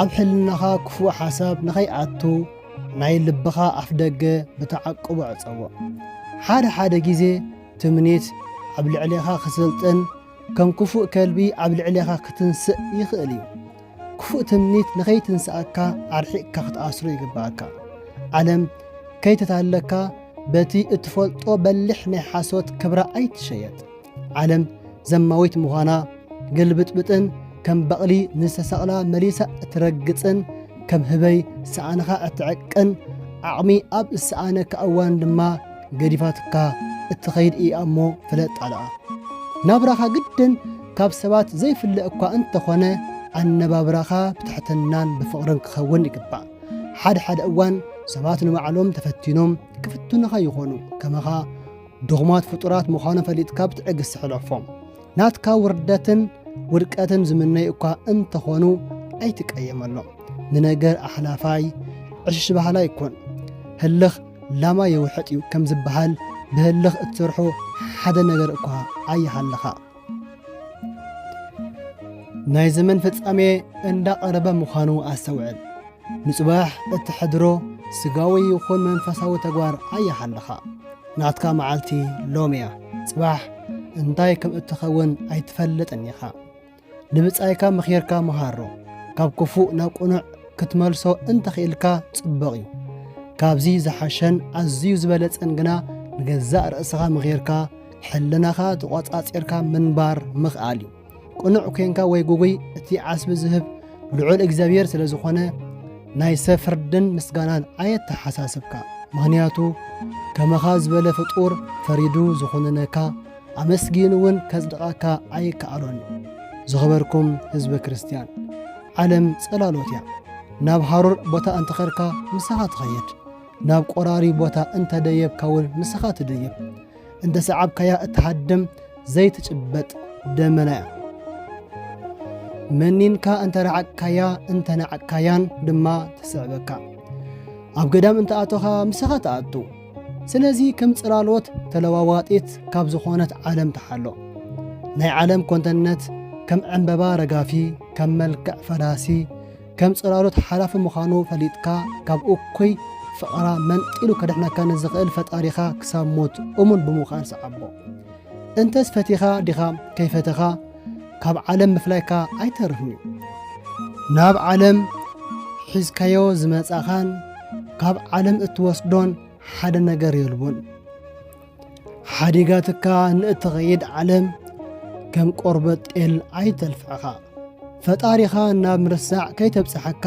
ኣብ ሕልናኻ ክፉእ ሓሳብ ንኸይኣቱ ናይ ልብኻ ኣፍደገ ብተዓቅቦ ዕጸዎ። ሓደ ሓደ ግዜ ትምኒት ኣብ ልዕሌኻ ክስልጥን ከም ክፉእ ከልቢ ኣብ ልዕሌኻ ክትንስእ ይኽእል እዩ። ክፉእ ትምኒት ንኸይትንስኣካ ኣርሒቕካ ክትኣስሮ ይግብኣካ። ዓለም ከይተታለካ በቲ እትፈልጦ በሊሕ ናይ ሓሶት ክብራ ኣይትሸየጥ። ዓለም ዘማዊት ምዃና ግልብጥብጥን ከም በቕሊ ንዝተሰቕላ መሊሳ እትረግጽን ከም ህበይ ሰኣንኻ እትዕቅን ዓቕሚ ኣብ እሰኣነካ እዋን ድማ ገዲፋትካ እትኸይድ እያ እሞ ፍለጥ ኣልኣ ናብራኻ ግድን ካብ ሰባት ዘይፍለ እኳ እንተኾነ ኣነባብራኻ ብትሕትናን ብፍቕርን ክኸውን ይግባእ ሓደ ሓደ እዋን ሰባት ንባዕሎም ተፈቲኖም ክፍትኑኻ ይኾኑ ከመኻ ድኹማት ፍጡራት ምዃኑ ፈሊጥካ ብትዕግስቲ ሕለፎም። ናትካ ውርደትን ውድቀትን ዝምነዩ እኳ እንተኾኑ ኣይትቀየመሎም። ንነገር ኣሕላፋይ ዕሽሽ ባህላይ ኩን። ህልኽ ላማ የውሕጥ እዩ ከም ዝበሃል ብህልኽ እትሰርሖ ሓደ ነገር እኳ ኣይሃልኻ። ናይ ዘመን ፍጻሜ እንዳቐረበ ምዃኑ ኣስተውዕል። ንጽባሕ እትሕድሮ ስጋዊ ይኹን መንፈሳዊ ተግባር ኣያሓለኻ ናትካ መዓልቲ ሎም እያ። ጽባሕ እንታይ ከም እትኸውን ኣይትፈልጥን ኢኻ። ንብጻይካ ምኺርካ መሃሮ። ካብ ክፉእ ናብ ቅኑዕ ክትመልሶ እንተኽኢልካ ጽቡቕ እዩ። ካብዚ ዝሓሸን ኣዝዩ ዝበለጸን ግና ንገዛእ ርእስኻ ምኺርካ ሕልናኻ ተቖጻጺርካ ምንባር ምኽኣል እዩ። ቅኑዕ ኮንካ ወይ ጉጉይ እቲ ዓስቢ ዝህብ ልዑል እግዚኣብሔር ስለ ዝኾነ ናይ ሰብ ፍርድን ምስጋናን ኣየተሓሳስብካ ምኽንያቱ ከመኻ ዝበለ ፍጡር ፈሪዱ ዝኾነነካ ኣመስጊን እውን ከጽድቐካ ኣይከኣሎን ዝኸበርኩም ህዝበ ክርስትያን ዓለም ጸላሎት እያ ናብ ሃሩር ቦታ እንተኸርካ ምሳኻ ትኸየድ ናብ ቆራሪ ቦታ እንተደየብካ እውን ምሳኻ ትደየብ እንተ ሰዓብካያ እትሃድም ዘይትጭበጥ ደመና እያ። መኒንካ እንተ ረዓቅካያ እንተ ናዕቅካያን ድማ ትስዕበካ ኣብ ገዳም እንተ ኣቶኻ ምሳኻ ትኣቱ ስለዚ ከም ጽላሎት ተለዋዋጢት ካብ ዝኾነት ዓለም ተሓሎ ናይ ዓለም ኮንተነት ከም ዕምበባ ረጋፊ ከም መልክዕ ፈላሲ ከም ጽላሎት ሓላፊ ምዃኑ ፈሊጥካ ካብ እኩይ ፍቕራ መንጢሉ ከድሕነካ ንዝኽእል ፈጣሪኻ ክሳብ ሞት እሙን ብምዃን ሰዓቦ። እንተስ ፈቲኻ ዲኻ ከይፈተኻ ካብ ዓለም ምፍላይካ ኣይተርፍን እዩ። ናብ ዓለም ሒዝካዮ ዝመጻኻን ካብ ዓለም እትወስዶን ሓደ ነገር የልቦን። ሓዲጋትካ ንእትኸይድ ዓለም ከም ቆርበት ጤል ኣይተልፍዕኻ። ፈጣሪኻ ናብ ምርሳዕ ከይተብጽሓካ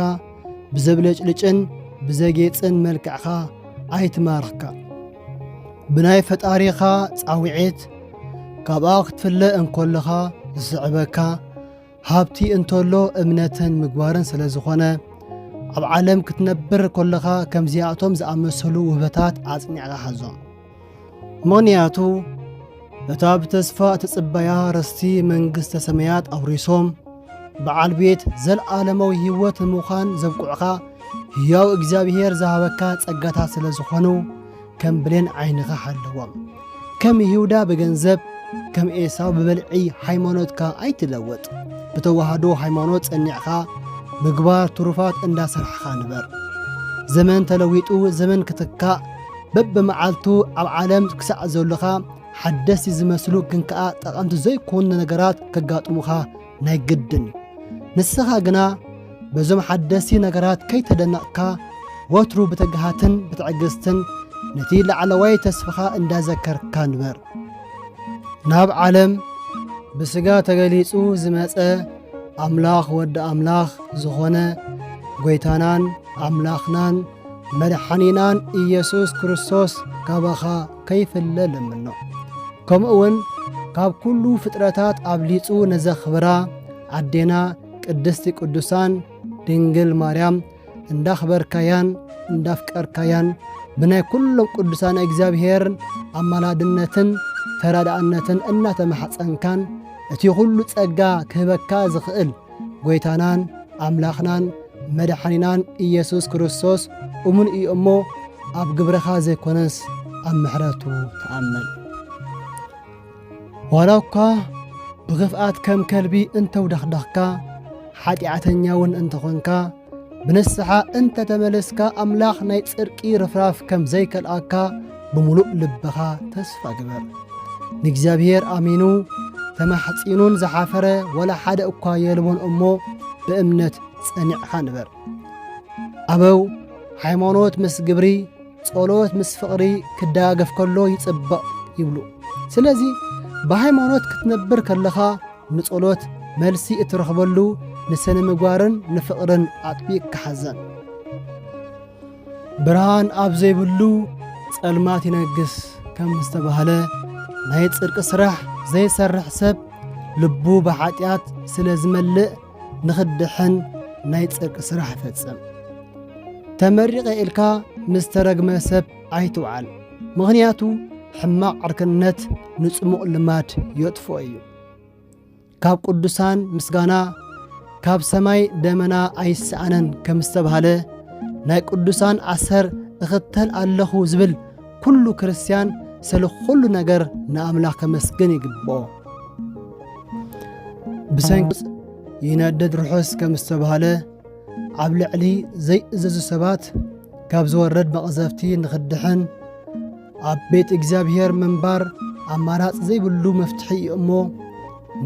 ብዘብለጭልጭን ብዘጌጽን መልክዕኻ ኣይትማርኽካ። ብናይ ፈጣሪኻ ጻውዒት ካብኣ ክትፍለ እንኮለኻ ዝስዕበካ ሃብቲ እንተሎ እምነትን ምግባርን ስለ ዝኾነ ኣብ ዓለም ክትነብር ኮለኻ ከምዚኣቶም ዝኣመሰሉ ውህበታት ኣጽኒዕካ ሓዞም ምኽንያቱ እታ ብተስፋ እትጽበያ ርስቲ መንግስተ ሰማያት ኣውሪሶም በዓል ቤት ዘለዓለማዊ ህይወት ንምዃን ዘብቁዕኻ ህያው እግዚኣብሔር ዝሃበካ ጸጋታት ስለ ዝኾኑ ከም ብሌን ዓይንኻ ሓለዎም። ከም ይሁዳ ብገንዘብ ከም ኤሳው ብበልዒ ሃይማኖትካ ኣይትለወጥ። ብተዋህዶ ሃይማኖት ጸኒዕኻ ምግባር ትሩፋት እንዳሰርሕኻ ንበር። ዘመን ተለዊጡ ዘመን ክትካእ በብመዓልቱ ኣብ ዓለም ክሳዕ ዘሎኻ ሓደስቲ ዝመስሉ ግን ከኣ ጠቐምቲ ዘይኮኑ ነገራት ከጋጥሙኻ ናይ ግድን እዩ ንስኻ ግና በዞም ሓደስቲ ነገራት ከይተደነቕካ ወትሩ ብትግሃትን ብትዕግስትን ነቲ ላዕለዋይ ተስፋኻ እንዳዘከርካ ንበር ናብ ዓለም ብስጋ ተገሊጹ ዝመጸ ኣምላኽ ወዲ ኣምላኽ ዝኾነ ጐይታናን ኣምላኽናን መድሓኒናን ኢየሱስ ክርስቶስ ካባኻ ከይፍለ ልምኖ። ከምኡውን ካብ ኩሉ ፍጥረታት ኣብሊጹ ነዘኽብራ ኣዴና ቅድስቲ ቅዱሳን ድንግል ማርያም እንዳኽበርካያን እንዳፍቀርካያን ብናይ ኩሎም ቅዱሳን እግዚኣብሔር ኣማላድነትን ተራዳእነትን እናተማሕፀንካን እቲ ኹሉ ጸጋ ክህበካ ዝኽእል ጐይታናን ኣምላኽናን መድሓኒናን ኢየሱስ ክርስቶስ እሙን እዩ እሞ ኣብ ግብርኻ ዘይኮነስ ኣብ ምሕረቱ ተኣመን። ዋላ እኳ ብኽፍኣት ከም ከልቢ እንተውደኽደኽካ ሓጢኣተኛ እውን እንተኾንካ ብንስሓ እንተ ተመለስካ ኣምላኽ ናይ ጽድቂ ርፍራፍ ከም ዘይከልኣካ ብምሉእ ልብኻ ተስፋ ግበር። ንእግዚኣብሔር ኣሚኑ ተማሕጺኑን ዝሓፈረ ወላ ሓደ እኳ የልቦን እሞ ብእምነት ጸኒዕኻ ንበር። ኣበው ሃይማኖት ምስ ግብሪ ጸሎት ምስ ፍቕሪ ክደጋገፍ ከሎ ይጽበቕ ይብሉ። ስለዚ ብሃይማኖት ክትነብር ከለኻ ንጸሎት መልሲ እትረኽበሉ ንሰነ ምግባርን ንፍቕርን ኣጥቢቕካ ሓዘን። ብርሃን ኣብ ዘይብሉ ጸልማት ይነግስ ከም ዝተባህለ ናይ ጽድቂ ስራሕ ዘይሰርሕ ሰብ ልቡ ብኃጢኣት ስለ ዝመልእ ንኽድሕን ናይ ጽድቂ ስራሕ ይፈጽም። ተመሪቐ ኢልካ ምስ ተረግመ ሰብ ኣይትውዓል ምኽንያቱ ሕማቕ ዕርክነት ንጽሙቕ ልማድ የጥፍኦ እዩ ካብ ቅዱሳን ምስጋና ካብ ሰማይ ደመና ኣይሰኣነን ከም ዝተባህለ ናይ ቅዱሳን ኣሰር እኽተል ኣለኹ ዝብል ኩሉ ክርስትያን ስለ ኩሉ ነገር ንኣምላኽ ከመስግን ይግብኦ ብሰንኪ ይነድድ ርሑስ ከም ዝተባህለ ኣብ ልዕሊ ዘይእዘዙ ሰባት ካብ ዝወርድ መቕዘፍቲ ንኽድሕን ኣብ ቤት እግዚኣብሔር ምንባር ኣማራጽ ዘይብሉ መፍትሒ እዩ እሞ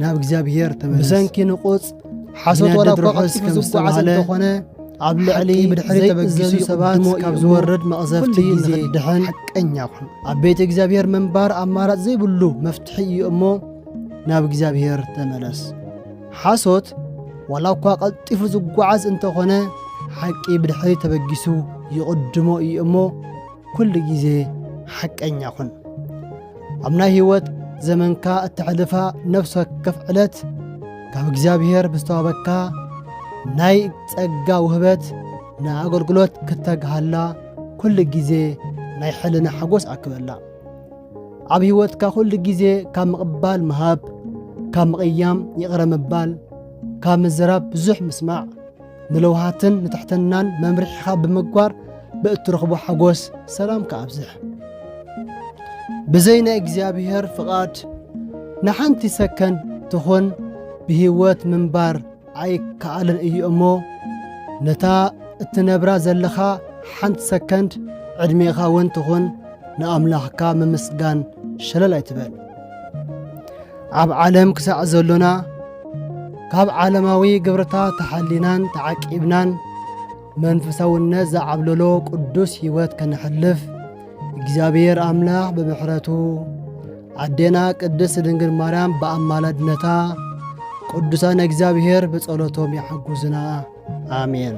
ናብ እግዚኣብሔር ተመለስ ብሰንኪ ንቑጽ ሓሶት ወላ እኳ ቀልጢፉ ዝጓዓዝ እንተኾነ ኣብ ልዕሊ ብድሕሪ ተበጊሱ ሰባት ካብ ዝወርድ መቕዘፍቲ ንኽድሕን ሓቀኛ ኹን ኣብ ቤት እግዚኣብሔር ምንባር ኣማራጽ ዘይብሉ መፍትሒ እዩ እሞ ናብ እግዚኣብሔር ተመለስ ሓሶት ዋላ እኳ ቐልጢፉ ዝጓዓዝ እንተኾነ ሓቂ ብድሕሪት ተበጊሱ ይቕድሞ እዩ እሞ ኩሉ ግዜ ሓቀኛ ኩን። ኣብ ናይ ህይወት ዘመንካ እተሕልፋ ነፍሲ ወከፍ ዕለት ካብ እግዚኣብሔር ብዝተዋበካ ናይ ጸጋ ውህበት ንኣገልግሎት ክተግሃላ ኩሉ ግዜ ናይ ሕልና ሓጎስ ኣክበላ። ኣብ ሕይወትካ ኹሉ ጊዜ ካብ ምቕባል ምሃብ ካብ ምቕያም ይቕረ ምባል ካብ ምዝራብ ብዙሕ ምስማዕ ንለውሃትን ንትሕትናን መምርሒኻ ብምግባር ብእትረኽቦ ሓጎስ ሰላም ከኣብዝሕ ብዘይ ናይ እግዚኣብሔር ፍቓድ ንሓንቲ ሰከንድ ትኹን ብህይወት ምንባር ኣይከኣልን እዩ እሞ ነታ እትነብራ ዘለኻ ሓንቲ ሰከንድ ዕድሜኻ እውን ትኹን ንኣምላኽካ ምምስጋን ሸለል ኣይትበል ኣብ ዓለም ክሳዕ ዘሎና ካብ ዓለማዊ ግብርታ ተሓሊናን ተዓቂብናን መንፈሳውነት ዝዓብለሎ ቅዱስ ሕይወት ከነሕልፍ እግዚኣብሔር ኣምላኽ ብምሕረቱ ኣዴና ቅድስት ድንግል ማርያም ብኣማላድነታ ቅዱሳን እግዚኣብሔር ብጸሎቶም ይሓጉዝና ኣሜን።